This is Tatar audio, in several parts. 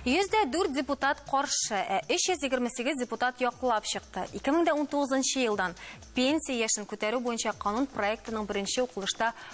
Йөздә дүрт депутат каршы, ә 328 депутат яклап чыкты. 2019 елдан пенсия яшен күтәрү буенча канун проектының беренче укылышта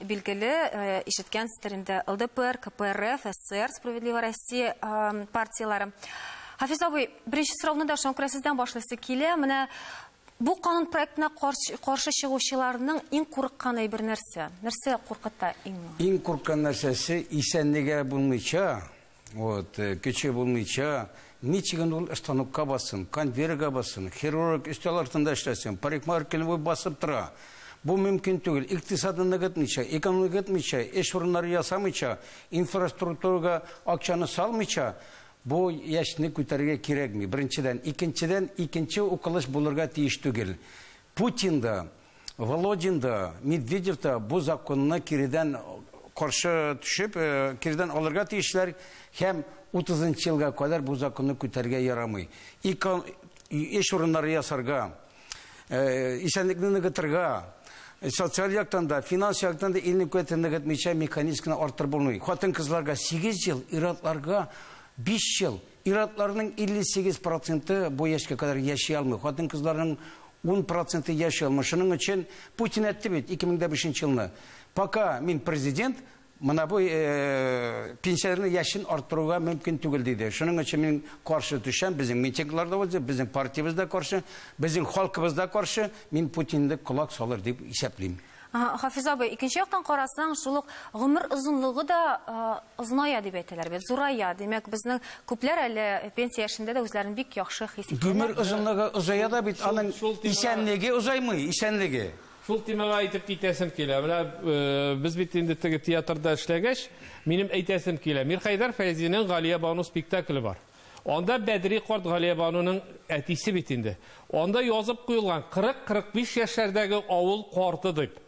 Билгеле, ишеткәнсездер инде, ЛДПР, КПРФ, ССР, Справедливая Россия партияләре. Хафиз абый, беренче сорауны да шуңа күрә сездән башлыйсы килә. Менә бу канун проектына каршы чыгучыларның иң курыккан әйбер нәрсә? Нәрсә куркыта иң? Иң курыккан нәрсәсе исәнлеге булмыйча, Вот, э, кече булмыйча, ничек инде ул станокка бассын, конвейерга бассын, хирург өстәл артында эшләсен, парикмахер буй басып тора. Бу мөмкин түгел. Икътисадны ныгытмыйча, экономика ныгытмыйча, эш урыннары ясамыйча, инфраструктурага акчаны салмыйча, бу яшьне күтәрергә кирәкми. Беренчедән, икенчедән, икенче укылыш булырга тиеш түгел. Путин да, Володин да, Медведев та бу законны киредән каршы төшеп, киредән алырга тиешләр һәм утызынчы елга кадәр бу законны күтәрергә ярамый. Икон эш урыннары ясарга, исәнлекне ныгытырга, социаль яктан да, финанс яктан да илнең куәтен ныгытмыйча механизм гына арттырып булмый. Хатын-кызларга 8 ел, ир-атларга 5 ел. Ир-атларның 58 проценты бу яшькә кадәр яши алмый, хатын-кызларның ун проценты яши алмый. Шуның өчен Путин әйтте бит 2005 нче елны, пока мин президент, менә бу пенсияләрнең яшен арттыруга мөмкин түгел диде. Шуның өчен мин каршы төшәм, безнең митинглар да узды, безнең партиябез дә каршы, безнең халкыбыз да каршы, мин Путинны колак салыр дип исәплим. Хафиза абый, икенче яктан карасаң, шул ук гомер озынлыгы да озыная дип әйтәләр бит, зурая. Димәк, безнең күпләр әле пенсия яшендә дә үзләрен бик яхшы хис итәләр. Гомер озынлыгы озая да бит, аның исәнлеге озаймый, исәнлеге. Шул темага әйтеп китәсем килә. Менә без бит инде теге театрда эшләгәч, минем әйтәсем килә. Мирхәйдәр Фәйзинең Галиябану спектакле бар. Анда Бәдри карт Галиябануның әтисе бит инде. Анда язып куелган 40-45 яшьләрдәге авыл карты дип.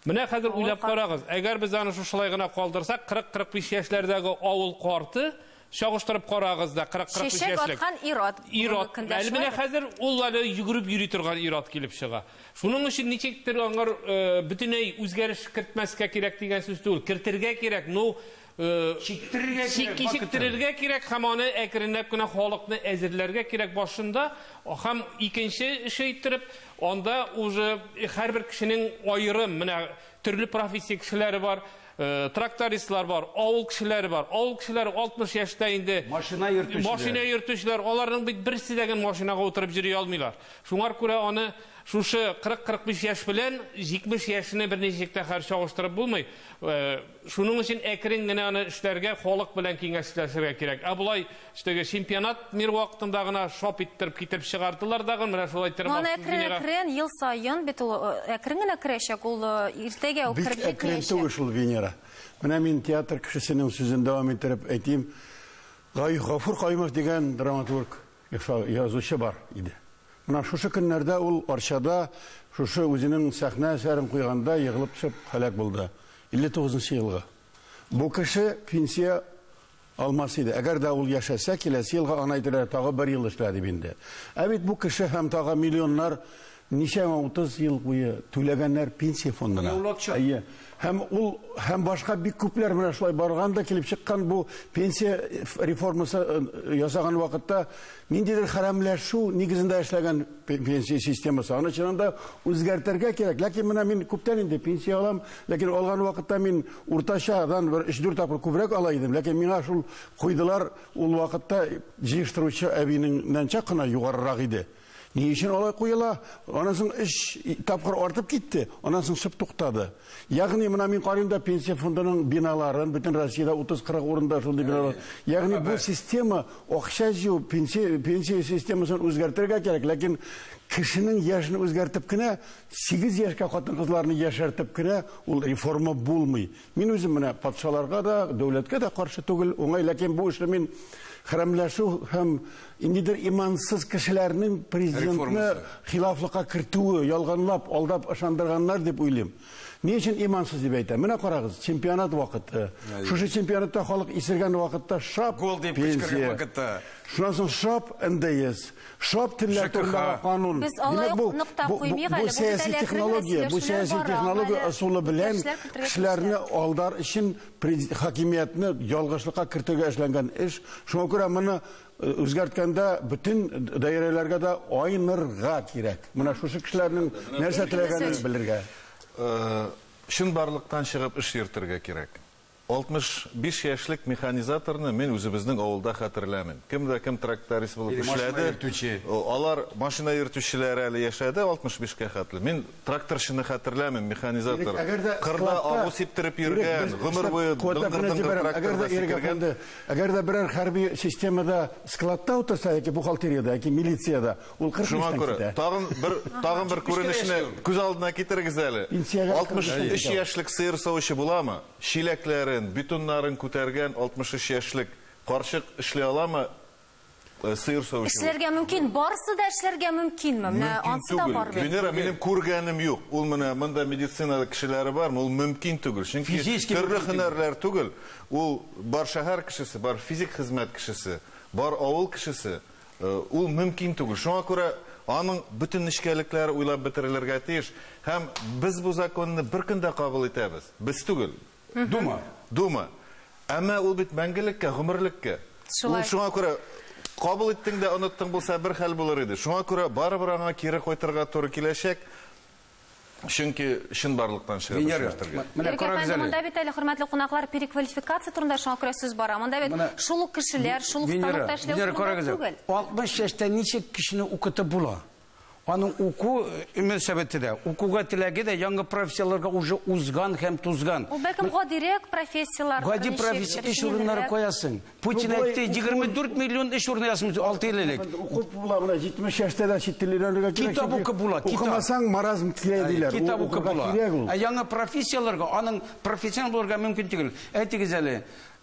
Менә хәзер уйлап карагыз, әгәр без аны шушылай гына калдырсак, 40-45 яшьләрдәге авыл карты чагыштырып карагыз да 40 45 яшьлек. Чәчәк аткан ират. Ират. Әле менә хәзер ул әле йөгереп йөри торган ират килеп чыга. Шуның өчен ничектер аңар э, бөтенләй үзгәреш кертмәскә кирәк дигән сүз түгел. Кертергә кирәк. Ну, Чиктерергә кирәк, чиктерергә кирәк һәм аны әкренләп кенә халыкны әзерләргә кирәк башында һәм икенче эше иттереп анда уже һәрбер кешенең аерым менә төрле профессия кешеләре бар Э, трактористлар бар, авыл кешеләре бар. Авыл кешеләре 60 яшьтә инде машина йөртүчеләр. Машина йөртүчеләр, аларның бит берсе дә генә машинага утырып йөри алмыйлар. Шуңар күрә аны шушы 40-45 яшь белән 70 яшьне берничек тә хәр чагыштырып булмый. Э, Шуның өчен әкрен генә аны эшләргә, халык белән киңәшләшергә кирәк. Ә болай теге чемпионат мир вакытында гына шап иттереп китереп чыгардылар дагы, менә шулай терем Аны астын әкрен Венера. әкрен ел саен бит ул э, әкрен генә керәчәк, ул э, иртәгә үк Бик кереп әкрен җитмәячәк. түгел шул Венера. Менә мин театр кешесенең сүзен дәвам иттереп әйтим. Гай- Гафур Каюмов дигән драматург, Ихфа язучы бар иде. Менә шушы көннәрдә ул Арчада шушы үзенең сәхнә әсәрен куйганда егылып төшеп һәлак булды. 59 нчы елгы. Бу кеше пенсия алмас иде. Әгәр дә ул яшәсә, киләсе елга аны әйтерләр, тагы бер ел эшлә дип инде. Ә бит бу кеше һәм тагы миллионнар Ничәмә утыз ел буе түләгәннәр пенсия фондына. Әйе. Һәм ул, һәм башка бик күпләр менә шулай барган да килеп чыккан бу пенсия реформасы ясаган вакытта ниндидер хәрәмләшү нигезендә эшләгән пенсия системасы. Аны чыннан да үзгәртергә кирәк. Ләкин менә мин күптән инде пенсия алам, ләкин алган вакытта мин уртачадан бер өч-дүрт тапкыр күбрәк ала идем, ләкин миңа шул куйдылар, ул вакытта җыештыручы әбинеңнән чак кына югарырак иде. Ни өчен алай куела? Аннан соң өч тапкыр артып китте, аннан соң шып туктады. Ягъни менә мин карыйм да пенсия фондының биналарын, бөтен Россиядә 30-40 урында шундый биналар. Ягъни бу система акча җыю, пенсия, пенсия системасын үзгәртергә кирәк, ләкин кешенең яшен үзгәртеп кенә, 8 яшькә хатын-кызларны яшәртеп кенә ул реформа булмый. Мин үзем менә патшаларга да, дәүләткә дә каршы түгел, уңай, ләкин бу эшне мин хәрәмләшү һәм ниндидер имансыз кешеләрнең президентны хилафлыкка кертүе, ялганлап, алдап ышандырганнар дип уйлыйм. Ни өчен имансыз дип әйтәм? Менә карагыз, чемпионат вакыты. Шушы чемпионатта халык исергән вакытта шап гол дип кычкырган вакытта. Шуннан соң шап НДС. Шап телләр ЖКХ. турындагы канун. Без алай Димәк, бу, ук ныктап бу, бу, куймыйк бу әле, бу сәяси җитәләр технология, белән бу сөйләшүләр сәяси бара, технология әле ысулы белән үзгәрешләр кертергә кешеләрне тиешләр. алдар өчен през- хакимиятне ялгышлыкка кертергә эшләнгән эш. Шуңа күрә моны э, үзгәрткәндә бөтен д- даирәләргә дә айнырга кирәк. Менә шушы кешеләрнең нәрсә теләгәнен Васильевич. белергә. Э, Чынбарлыктан чыгып эш йөртергә кирәк. 65 яшьлек механизаторны мин үзебезнең авылда хәтерләмим. Кем дә кем тракторист булып Или машина эшләде. йөртүче. Алар машина йөртүчеләр әле яшәде, 65 кә хәтле. Мин тракторчыны хәтерләмим, Ирек, механизатор. әгәр дә Кырда складта- агу сиптереп Ирек, йөргән, без- гомер Шләп, буе куәтләп кенә дыңгыр-дыңгыр җибәрәм. Әгәр тракторда дә, Ирек сикергән. әфәнде, әгәр дә берәр хәрби системада складта утырса, яки бухгалтериядә, яки милициядә, Ул 40 Шуңа яшьтән күрә китә. тагын бер тагын бер 75 кенә күренешне яшьли ул. күз алдына китерегез әле. Пенсиягә 63 кырык яшьтә. яшьлек сыер савучы буламы? Чиләкләрен, бетоннарын күтәргән 63 яшьлек карчык эшли аламы э, сыер савучы? булып? Эшләргә мөмкин, барысы да эшләргә мөмкинме? Менә Мөмкин ансы да түгел. бар бит. Венера, минем күргәнем юк. Ул менә монда медицина кешеләре бармы? Ул мөмкин түгел. Чөнки Физически төрле мөмкин түгел. һөнәрләр түгел. Ул бар шәһәр кешесе, бар физик хезмәт кешесе, бар авыл кешесе. Ул мөмкин түгел. Шуңа күрә аның бөтен нечкәлекләре уйлап бетерелергә тиеш. Һәм без бу законны бер көндә кабул итәбез. Без түгел. Дума. Дума. Әмма ул бит мәңгелеккә, гомерлеккә. Ул шуңа күрә кабул иттең дә оныттың булса, бер хәл булыр иде. Шуңа күрә барыбер аңа кире кайтырга туры киләчәк. Чөнки чынбарлыктан чыга Венера. башка хәтергә. Менә Ирек карагыз әфәнде, әле. монда бит әле, хөрмәтле кунаклар, переквалификация турында шуңа күрә сүз бара. Монда бит Менә- шул ук кешеләр, шул ук Венера, станокта эшләү Венера, турында карагыз әле. түгел. 60 яшьтә ничек кешене укытып була? Аның уку э, мөнәсәбәте дә, укуга теләге дә яңа профессияләргә уже узган һәм тузган. Ул бәлкем гадирәк профессияләр. Гади ничек, профессия эш урыннары рәсмилерәк. куясың. Путин әйтте, 24 миллион эш урыны ясамыз, 6 ел элек. Укып була, менә 70 яшьтә дә чит тел өйрәнергә кирәк. Китап укып була, китап. Укымасаң, маразм килә диләр. Китап укып була. Ә яңа профессияләргә аның профессионал булырга мөмкин түгел. Әйтегез әле,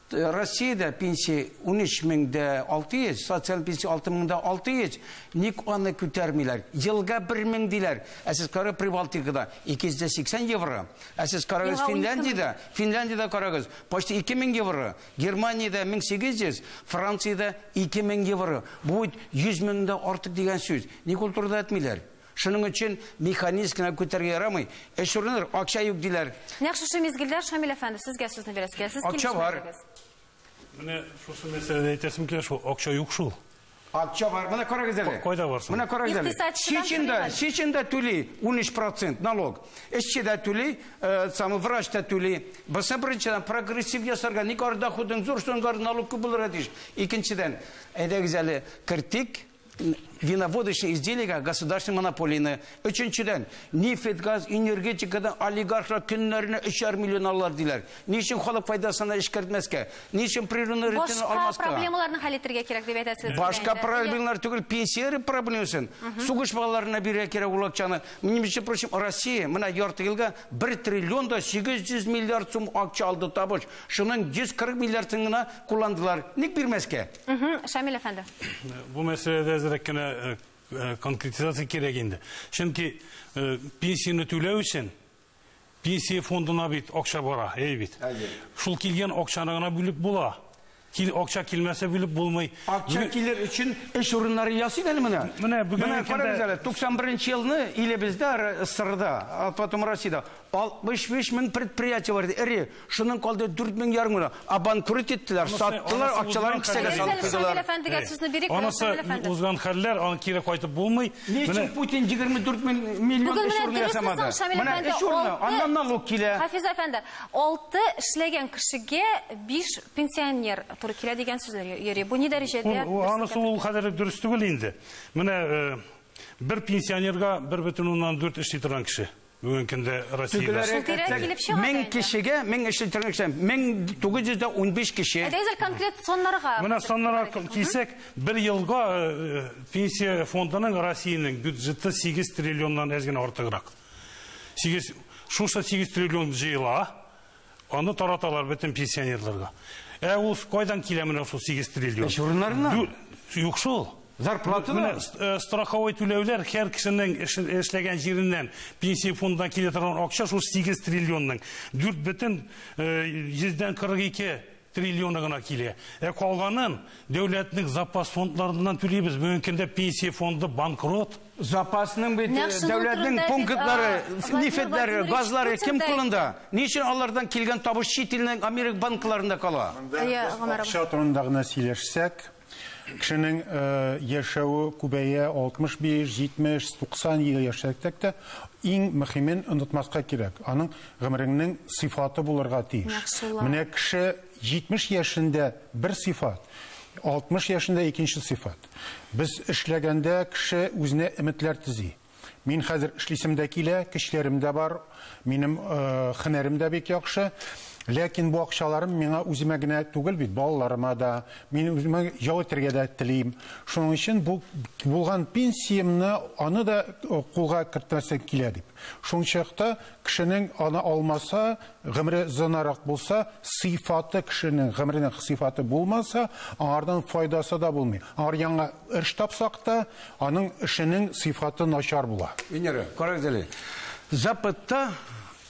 Россиядә пенсия 13 меңдә 600, социаль пенсия 6 меңдә 600, ник аны күтәрмиләр? Елга 1 мең диләр, ә сез кара Прибалтикада 280 евро, ә сез карагыз Финляндиядә, Финляндиядә карагыз, почти 2 мең евро. Германиядә 1800, Франциядә 2000 евро. Бу бит 100 меңдән артык дигән сүз. Ник ул турыда әйтмиләр? Шуның өчен механизм гына күтәрергә ярамый. Эш урыныдыр, акча юк диләр. Нәкъ шушы мизгелдә Шамил әфәнде сезгә сүзне бирәсе килә. Сез Акча бар. килешмәдегез. Менә шушы мәсьәләдә әйтәсем килә шул, акча юк шул. Акча бар. Менә карагыз әле. Кайда бар соң? Менә карагыз әле. Икътисадчыдан Чечен дә, түлиләр. чечен дә түли 13% налог. Эшче дә түли, э, самый врач та түли. Басы беренчедән прогрессив ясарга, ник ар доходын зур соңгар налог күп булырга тиеш. Икенчедән, әйдәгез әле кертик н- виноводочный изделиегә государственный монополияне Өченчедән, нефть-газ, энергетикадан олигархлар көннәренә өчәр миллион алалар диләр. Ни өчен халык файдасына эшкәртмәскә? Ни өчен природный ресурсны Башка алмаска? проблемаларны хәл итәргә кирәк дип әйтәсез. сез Башка инде. проблемалар түгел, пенсия проблемасын. Сугыш балаларына бирә кирәк ул акчаны. Мин, между прочим, Россия менә ярты елга 1 триллион да 800 миллиард сум акча алды табыш. Шуның 140 миллиардын гына кулландылар. Ник бирмәскә? Мгм. Шамил әфәнде. Бу мәсьәләдә әзрәк кенә э, Э, конкретизация кирәк инде. Чөнки э, пенсияне түләү өчен пенсия фондына бит акча бара, әй бит. Шул килгән акчаны гына бүлеп була. Кил, акча килмәсә бүлеп булмый. Акча килер өчен эш урыннары ясый әле менә. Менә бүген менә карагыз әле 91 елны илебездә сырда, а потом Россиядә 65 мең предприятие бар иде, эре. Шуның калды 4 мең ярым гына. Абанкрут иттеләр, саттылар, акчаларын кесәгә салып куйдылар. Шамил әфәндегә сүзне бирик. Анысы узган хәлләр, аны кире кайтып булмый. Ни өчен Путин 24 мең миллион эш урыны ясамады? Менә эш урыны, аннан налог килә. Хафиз әфәнде, 6 эшләгән кешегә 5 пенсионер туры килә дигән сүзләр йөри. Бу ни дәрәҗәдә? Анысы ул кадәр дөрес түгел инде. Менә бер пенсионерга 1,4 эшли торган кеше. Бүген көндә Россиядә Шултирәк килеп чыга да Мең инде. кешегә, мең эшче төркем кеше, 1915 кеше. Әйдәгез әле конкрет саннарга. Менә саннарга к- килсәк, бер елга э, пенсия фондының Россиянең бюджеты 8 триллионнан әз генә артыграк. 8 шушы 8 триллион җыела, Аны тараталар бөтен пенсионерларга. Ә ул кайдан килә менә шул 8 триллион? Эш урыннарыннан. Дү- Юк шул. Зарплата Менә да. с- э, страховой түләүләр һәр кешенең эш- эшләгән җиреннән пенсия фондына килә торган акча шул 8 триллионның 4 бөтен э, йөздән 42 триллионы гына килә. Ә калганын дәүләтнең запас фондларыннан түлибез. Бүгенге көндә пенсия фонды банкрот. Запасның бит Нәкъ шуның дәүләтнең турында пунктлары, бит, а, Владимир нефтьләре, Владимирович газлары Путин кем да кулында? әйтте. Ни өчен алардан килгән табыш чит илнең Америка банкларында кала? Монда Әйе, без Гомәр абый. акча турында гына сөйләшсәк, Кешенең яшәве күбәя, 65, 70, 90 ел яшәсәк тә, иң мөхимен онытмаска кирәк, аның гомереңнең сыйфаты булырга тиеш. Менә кеше 70 яшендә бер сыйфат, 60 яшендә икенче сыйфат. Без эшләгәндә кеше үзенә өметләр төзи. Мин хәзер эшлисем дә килә, көчләрем дә бар, минем хенәрем дә бик яхшы. Ләкин бу акчаларым миңа үземә генә түгел бит, балаларыма да, мин үземә ял итәргә дә телим. Шуның өчен бу булган пенсиямне аны да э, кулга кертмәсем килә дип. Шуның чакта кешенең аны алмаса, гомере зынарак булса, сыйфаты кешенең гомеренең сыйфаты булмаса, аңардан файдасы да булмый. Аңар яңа эш тапсак та, Аның эшенең сыйфаты начар була. Венера, карагыз әле. Запытта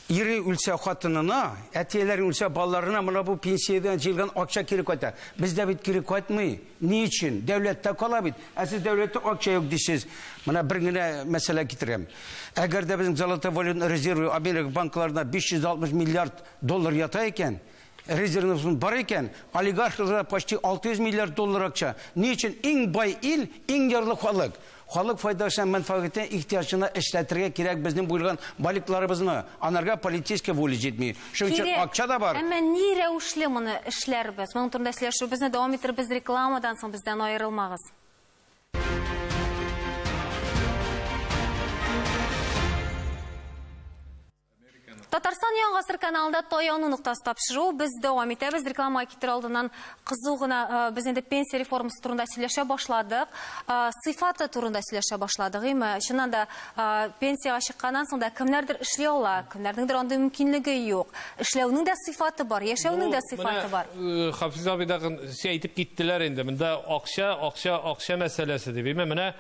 ире үлсә хатынына, әтиеләре үлсә балаларына менә бу пенсиядән җыелган акча кире кайта. Бездә бит кире кайтмый. Ни өчен? Дәүләттә кала бит. Ә сез дәүләттә акча юк дисез. Менә бер генә мәсьәлә китерәм. Әгәр дә безнең золотой валютный резервы Америка банкларында 560 миллиард доллар ята икән, Резервыбыз бар икән, олигархларга почти 600 миллиард доллар акча. Ни өчен иң бай ил, иң ярлы халык? Халык файдасы һәм мәнфәгатенә, ихтыяҗына эшләтергә кирәк безнең буелган баликларыбызны. Анарга политическая воля җитми. Шуның өчен Кирәк. акча да бар. Әмма ни рәвешле моны эшләрбез? Моның турында сөйләшүебезне дәвам иттербез рекламадан соң, бездән аерылмагыз. Татарстан Яңа Гасыр каналында таяну ноктасы тапшыру без дәвам итәбез. Рекламага китер алдыннан кызу гына э, без инде пенсия реформасы турында сөйләшә башладык. Э, сыйфаты турында сөйләшә башладык, име? Чыннан да э, пенсияга чыкканнан соң да кемнәрдер эшли ала, кемнәрнеңдер андый мөмкинлеге юк. Эшләүнең дә сыйфаты бар, яшәүнең дә сыйфаты бар. Хафиз абый да әйтеп киттеләр инде. Монда акча, акча, акча мәсьәләсе дип. Менә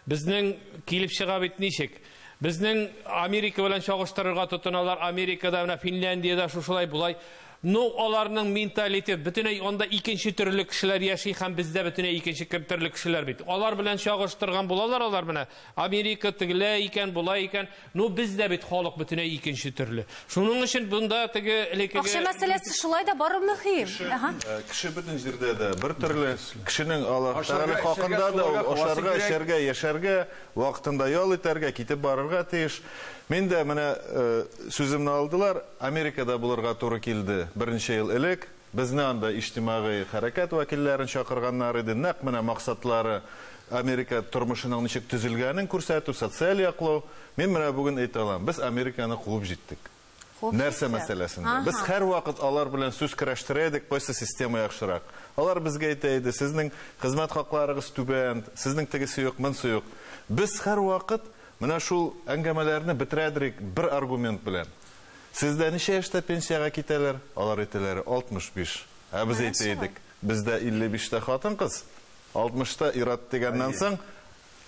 безнең килеп чыга бит ничек? Безнең Америка белән чагыштырырга тотыналар, Америкада, менә Финляндиядә шушылай болай. Ну, аларның менталитет, бөтенләй анда икенче төрле кешеләр яши һәм бездә бөтенләй икенче кем төрле кешеләр бит. Алар белән чагыштырган булалар алар менә, Америка тегелә икән, була икән. Ну, бездә бит халык бөтенләй икенче төрле. Шуның өчен бунда теге элекеге... Акча мәсьәләсе шулай да бару мөһим. Ага. Э, кеше бөтен җирдә дә бер төрле. Кешенең Аллаһ Тәгалә хакында да ашарга, эчәргә, яшәргә, Вакытында ял итәргә, китеп барырга тиеш. Мин дә менә сүземне алдылар, Америкада булырга туры килде. Берничә ел элек безне анда иҗтимагый хәрәкәт вәкилләрен чакырганнар иде. Нәкъ менә максатлары, Америка тормышының ничек төзелгәнен күрсәтү, социаль яклау. Мин менә бүген әйтә алам, без Американы куып җиттек. Нәрсә мәсьәләсендә? Без һәрвакыт алар белән сүз көрәштерә идек, кайсы система яхшырак. Алар безгә әйтә иде, сезнең хезмәт хакларыгыз түбән, сезнең тегесе юк, монсы юк. Без һәрвакыт менә шул әңгәмәләрне бетерәдерик бер аргумент белән. Сездә ничә яшьтә пенсиягә китәләр? Алар әйтәләр, 65. Ә без әйтә идек, бездә 55 тә хатын-кыз, 60 та ир-ат дигәннән соң,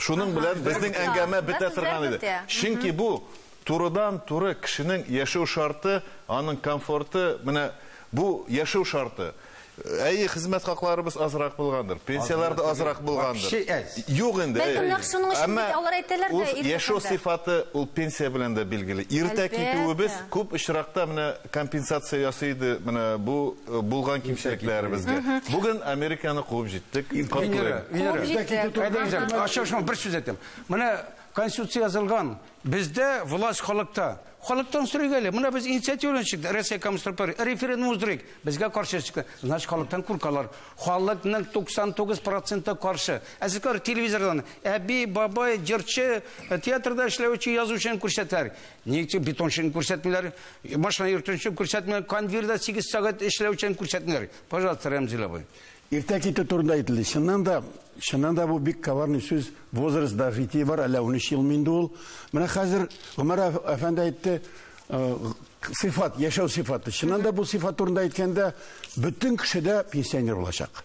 Шуның белән безнең әңгәмә бетә торган иде. Чөнки бу турыдан-туры кешенең яшәү шарты, аның комфорты, менә бу яшәү шарты. Әйе, хезмәт хакларыбыз азрак булгандыр, пенсияләр дә азрак булгандыр. Юк инде. Бәлкем нәкъ шуның өчен бит алар әйтәләр дә, ир яшәү сыйфаты ул пенсия белән дә билгеле. Иртә китүебез күп очракта менә компенсация ясый иде менә бу Булган кимчелекләребезгә. Бүген Американы куып җиттек. Венера, Венера. Ача шуңа бер сүз әйтәм. Менә Конституция язылган. Бездә власть халыкта. Халыктан сорыйк әле. Менә без инициативаны чыктык. Россия коммунистик партия референдум уздырыйк. Безгә каршы чыкты. Значит, халыктан куркалар. Халыкның 99% каршы. Ә сез кар телевизордан әби, бабай, җырчы, театрда эшләүче язучыны күрсәтәр. Нигә бетончыны күрсәтмиләр? Машина йөртүче күрсәтмиләр, кондвирда 8 сәгать эшләүчән күрсәтмиләр. Пожалуйста, Рәмзил абый. Иртә китү турында әйтелде. Чыннан да, чыннан да бу бик коварный сүз. Возраст да житие бар, әллә 13 елмы инде ул. Менә хәзер Гомәр әфәнде әйтте, э, сыйфат, яшәү сыйфаты. Чыннан да бу сыйфат турында әйткәндә, бөтен кеше дә пенсионер булачак.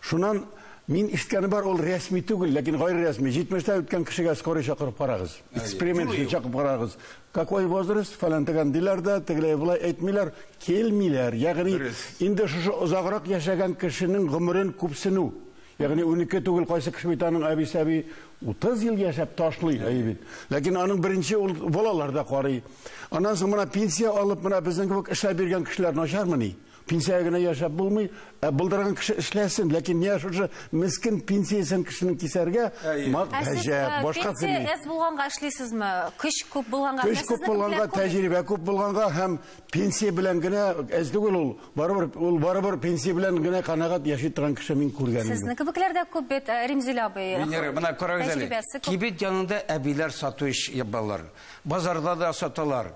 Шуннан Мин ишеткәне бар, ул рәсми түгел, ләкин гайре рәсми. 70-тә үткән кешегә скорый чакырып карагыз. Эксперимент өчен чакырып карагыз. Какой возраст? Фәлән дигән диләр дә, тегеләй булай әйтмиләр, килмиләр. Ягъни инде шушы озаграк яшәгән кешенең гомерен күпсенү. Ягъни 12 түгел, кайсы кеше бит аның әбисе әби 30 ел яшәп ташлый әйе бит. Ләкин аның беренче ул балалар да карый. Аннан соң менә пенсия алып, менә безнең кебек эшләп биргән кешеләр начармыни? Пенсиягә генә яшәп булмый, ә булдырган кеше эшләсен, ләкин менә шушы мескен пенсиясен кешенең кисәргә мак Ә сез гаҗәп, э, башка пенсия телми. әз булганга эшлисезме? Көч күп булганга. Менә Көч күп сезнекеләр булганга, күп бит. тәҗрибә күп булганга һәм пенсия белән генә әз түгел ул. Барыбер ул барыбер пенсия белән генә канәгать яши торган кеше мин күргәнем юк. Сезнең кебекләр дә күп бит, э, Римзилә абый. Венера, менә карагыз әле. Тәҗрибәсе күп. Кибет янында әбиләр сату ич ябалар. Базарда да саталар.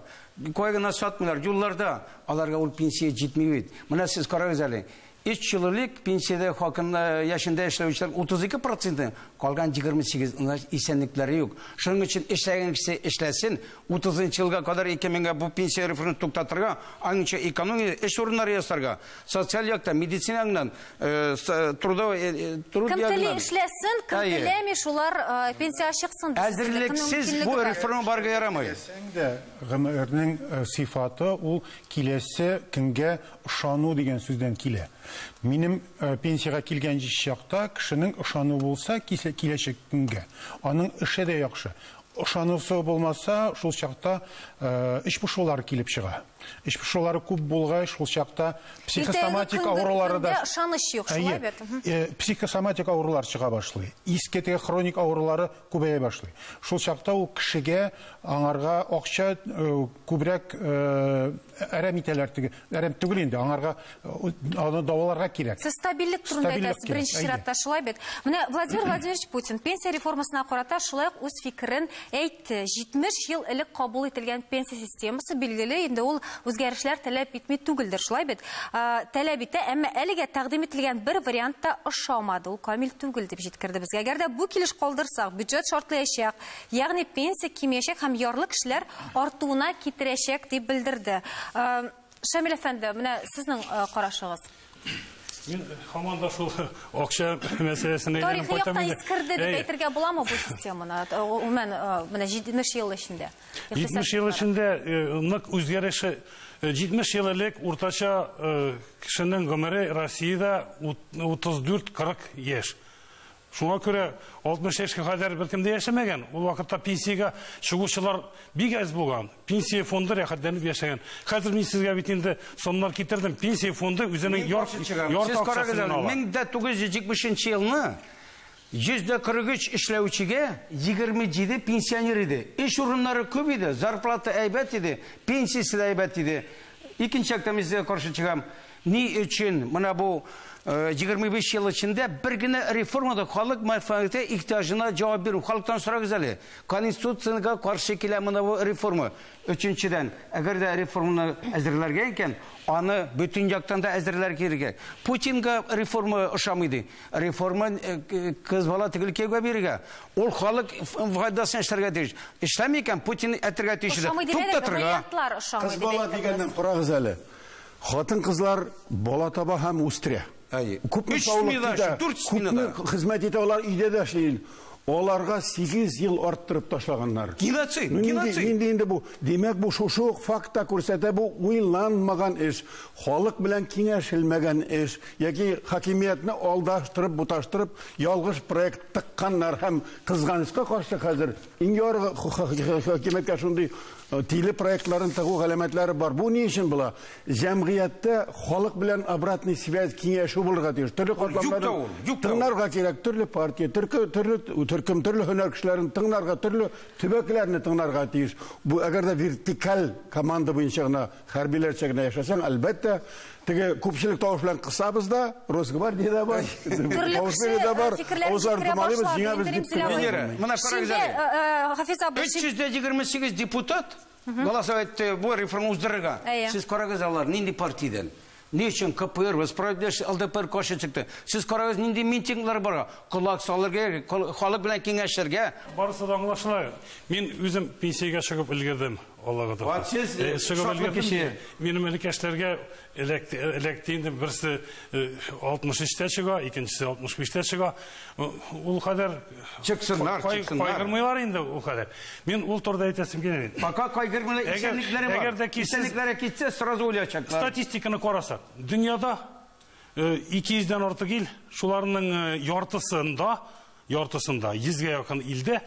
Кая гына сатмыйлар, юлларда. Аларга ул пенсия җитми бит. Менә сез карагыз әле, 3 ел элек пенсиядә хакын э, яшендә эшләүчеләр 32 проценты, калган 28, значит, исәнлекләре юк. Шуның өчен эшләгән кеше эшләсен, 30 елга кадәр икән меңгә бу пенсия реформасын туктатырга, аныңча экономия, эш урыннары ясарга. социаль яктан, медицинаңнан, э, э, трудовой... Э, кем теле эшләсен, кем теләми, шулар пенсия чыксын. Әзерлексез бу реформа барга ярамый. Гомернең сифаты ул киләсе көнгә ышану дигән сүздән килә. Минем пенсияга килгән чакта кешенең ышану булса киләчәк көнгә, аның эше дә яхшы. Ышанасы булмаса, шул чакта эч пошулары килеп чыга. Эч пошулары күп булгач, шул чакта психосоматик авырулары да... Ышаныч юк, шулай бит. Психосоматик авырулар чыга башлый. Иске теге хроник авырулары күбәя башлый. Шул чакта ул кешегә аңарга акча күбрәк әрәм итәләр теге әрәм түгел инде, аңарга аны даваларга кирәк. Сез стабильлек турында әйтәсез, беренче чиратта шулай бит. Менә Владимир Владимирович Путин пенсия реформасына карата шулай ук үз фикерен әйтте. 70 ел элек кабул ителгән пенсия системасы билгеле, инде ул үзгәрешләр таләп итми түгелдер, шулай бит. Таләп итә, әмма әлегә тәкъдим ителгән бер вариант та ошамады. Ул камил түгел дип җиткерде безгә. Әгәр дә бу килеш калдырсак, бюджет шартлаячак. Ягъни пенсия кимиячәк һәм ярлы кешеләр артуына китерәчәк дип белдерде. Шамил әфәнде, менә сезнең карашыгыз. Мин һаман да шул акча мәсьәләсенә әйләнеп кайтам. Тарихи яктан искерде дип әйтергә буламы бу системаны? Гомумән, менә 70 ел эчендә. 70 ел эчендә нык үзгәреше 70 ел элек уртача кешенең гомере Россиядә 34-40 яшь. Шуңа күрә 60 яшькә кадәр беркем дә яшәмәгән. Ул вакытта пенсиягә чыгучылар бик әз булган. Пенсия фонды рәхәтләнеп яшәгән. Хәзер мин сезгә бит инде сомнар китердем. Пенсия фонды үзенең ярты акчасын ала. 1970 нче елны 143 эшләүчегә 27 пенсионер иде. Эш урыннары күп иде, зарплата әйбәт иде, пенсиясе дә әйбәт иде. Икенче яктан мин сезгә каршы чыгам. Ни өчен менә бу 25 ел эчендә бер генә реформа да халык мәнфәгате ихтиҗына җавап бирү. Халыктан сорагыз әле. Конституциягә каршы килә менә бу реформа. Өченчедән, әгәр дә реформаны әзерләргә икән, аны бөтен яктан да әзерләр кирәк. Путинга реформа ошамый ди. Реформа кыз бала төгәл кияүгә бирергә. Ул халык файдасына эшләргә тиеш. Эшләми икән, Путин әтергә тиеш иде. Туктатырга. Кыз бала дигәннән корагыз әле. Хатын-кызлар бала таба һәм үстерә. Әйе. Күпме Өч саулык смена китә, өчен, дүрт күпме сменада. хезмәт итә, алар өйдә дә эшли. инде. Аларга 8 ел арттырып ташлаганнар. Геноцид, Ну, нинди, геноцид. нинди инде бу? Димәк, бу шушы ук факт та күрсәтә, бу уйланмаган эш, халык белән киңәшелмәгән эш, яки хакимиятне алдаштырып, буташтырып, ялгыш проект тыкканнар һәм, кызганычка каршы, хәзер Иң югары хакимияткә шундый тиле проектларын тыгу галәмәтләре бар. Бу ни өчен була? Җәмгыятьтә халык белән обратный связь киңәшү булырга тиеш. Төрле катламнарны тыңларга кирәк, төрле партия, төрле төркем, төрле һөнәр кешеләрен тыңларга, төрле төбәкләрне тыңларга тиеш. Бу әгәр дә вертикаль команда буенча гына Хәрбиләрчә генә яшәсәң, әлбәттә, теге күпчелек тавыш белән кысабыз да, Росгвардия да бар, Баушбери да бар, авызларын томалыйбыз, җиңәбез дип кенә. Венера, менә карагыз әле. Хафиз абый. 328 депутат голосовать итте бу реформа уздырырга. Сез карагыз алар нинди партиядән. Ни өчен КПР, вы справедливость, ЛДПР каршы чыкты? Сез карагыз, нинди митинглар бара. Колак салырга, халык белән киңәшергә. Барысы да аңлашыла. Мин үзем пенсиягә чыгып өлгердем. Аллага тапкыр. Вот сез э, шатлы кеше. Минем элекәшләргә эләкте инде. Берсе 63-тә э, чыга, икенчесе 65-тә чыга. Ул кадәр чыксыннар, чыксыннар. Кайгырмыйлар инде ул кадәр. Мин ул турыда әйтәсем килә. Пока кайгырмыйлар, исәнлекләре бар. Әгәр дә кисәнлекләре китсә, сразу уйлаячаклар. Статистиканы карасак, дөньяда 200 дән артык ил, шуларның яртысында, яртысында 100 гә якын илдә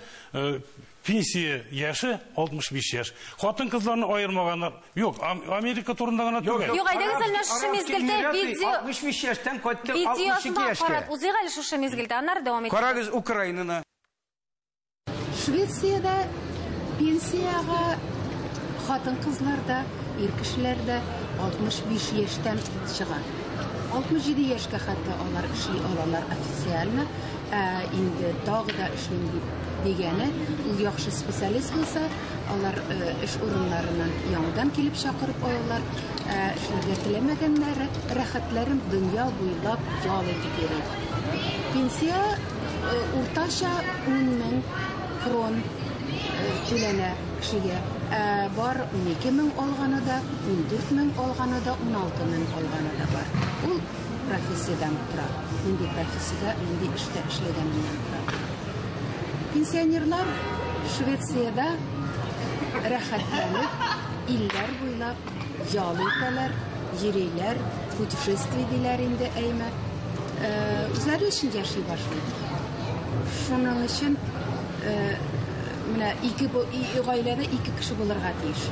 Пенсия яше 65 яшь. Хатын-кызларны аермаганнар. Юк, Америка турында гына түгел. Юк, әйдәгез әле шушы мизгелдә видео 65 яшьтән кайтты 62 яшькә. Карап узыйк әле шушы мизгелдә, аннары дәвам итәбез. Карагыз Украинаны. Швециядә пенсиягә хатын-кызлар да, ир кешеләр дә 65 яшьтән чыга. 67 яшькә хәтта алар эшли алалар официально. Ә инде тагы да эшлим дип Дигәне, ул яхшы специалист булса, алар эш урыннарыннан яңадан килеп чакырып алалар. Эшләргә теләмәгәннәр, рәхәтләрен дөнья буйлап ял итеп йөри. Пенсия уртача 10 мең крон түләнә кешегә. Ә бар 12 мең алганы да, 14 мең алганы да, 16 мең алганы да бар. Ул профессиядән тора. Нинди профессиядә, нинди эштә эшләгәненнән тора. Пенсионерлар Швециядә рәхәтләнеп, илләр буйлап ял итәләр, йөриләр, путешествие диләр инде әйме. Э, үзләре өчен яши башлый. Шуның өчен э, менә ике гаиләдә ике кеше булырга тиеш.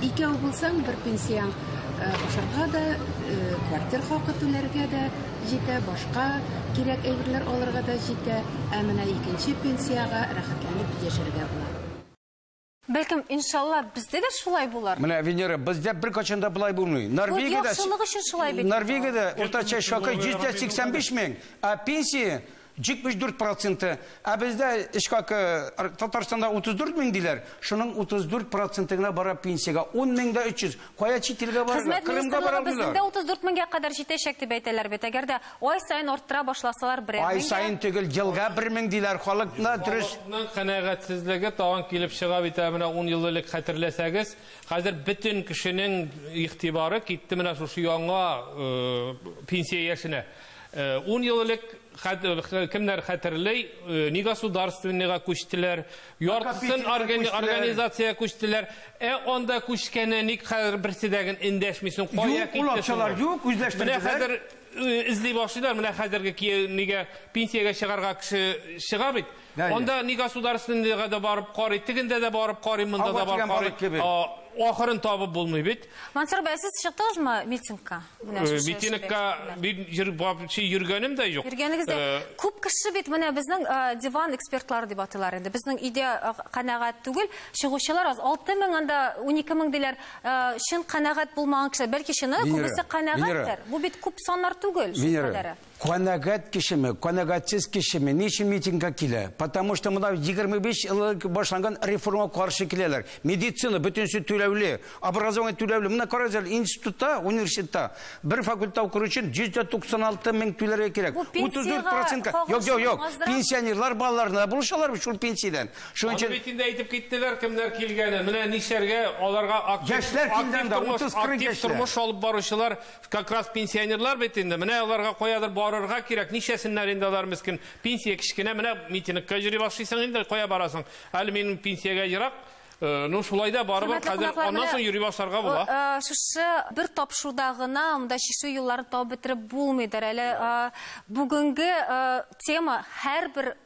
Икәү булсаң, бер пенсияң ашарга да, квартир хакы түләргә дә, җитә, башка кирәк әйберләр алырга да җитә, ә менә икенче пенсиягә рәхәтләнеп яшәргә була. Бәлкем, иншалла, бездә дә шулай булыр. Менә, Венера, бездә беркайчан да болай булмый. Норвегиядә, Норвегиядә уртача чакы 185 мең, ә пенсия 74 проценты, ә бездә эш хакы Татарстанда 34 мең диләр, шуның 34 проценты гына бара пенсиягә, 10 мең дә 300. Кая чит илгә барырга? Хезмәт Кырымга бара министрлыгы безнең дә алмыйлар. 34 меңгә кадәр җитәчәк дип әйтәләр бит. Әгәр дә ай саен арттыра башласалар берәр Ай меңгә. саен түгел, елга бер мең диләр. Халыкны дөрес Халыкның канәгатьсезлеге тагын килеп чыга бит, ә менә ун ел элек хәтерләсәгез, хәзер бөтен кешенең игътибары китте менә шушы яңа э, пенсия яшенә. Ун ел элек, кемнәр хәтерли, негосударственныйга күчтеләр, яртысын организациягә күчтеләр. Ә анда күчкәне ник хәзер берсе дә эндәшмисең, кая китте соң? Юк, ул акчалар юк, үзләштерделәр. Менә хәзер эзли башлыйлар, менә хәзерге нигә пенсиягә чыгарга кеше чыга бит. Анда ни государственныйга да барып карый, тегендә дә барып карый, монда да барып карый. Ахырын табып булмый бит. Мансур бәй, сез чыктыгызмы митингка? Э, митингка мин вообще йөргәнем дә юк. Йөргәнегез дә. Э, Күп кеше бит менә безнең э, диван экспертлары дип атыйлар инде. Безнең өйдә канәгать түгел, чыгучылар аз. 6000 анда 12000 диләр. Чын канәгать булмаган кеше, бәлки чыны күбесе канәгатьтер. Бу бит күп саннар түгел, шул кадәре. Канәгать кешеме, канәгатьсез кешеме, ни өчен митингка килә? Потому что монда 25 ел элек башланган реформа каршы киләләр. Медицина бөтенесе түләүле, образование түләүле. Менә карагыз әле, институтта, университетта бер факультетта укыр өчен 196 мең түләргә кирәк. Бу пенсиягә 34 процентка. Юк, кагылышлы юк, юк. булмазрак? Пенсионерлар балаларына булышалар бит шул пенсиядән. Шуның Аны өчен бит инде әйтеп киттеләр кемнәр килгәнен. Менә нишләргә аларга актив Яшьләр актив килгән дә, тормыш, 30-40 актив яшьләр. тормыш алып баручылар Как раз пенсионерлар бит инде, менә аларга каядыр барырга кирәк, ничәсеннәр инде алар мескин. Пенсия кечкенә, менә митингка йөри башлыйсың инде, кая барасың? Әле минем пенсиягә ерак. Э, ну шулай да барыбер Хөрмәтле хәзер кунаклар, аннан менә, соң йөри башларга була. э, э, Шушы бер тапшыруда гына монда чишү юлларын табып бетереп булмыйдыр. Әле э, бүгенге э, тема һәрбер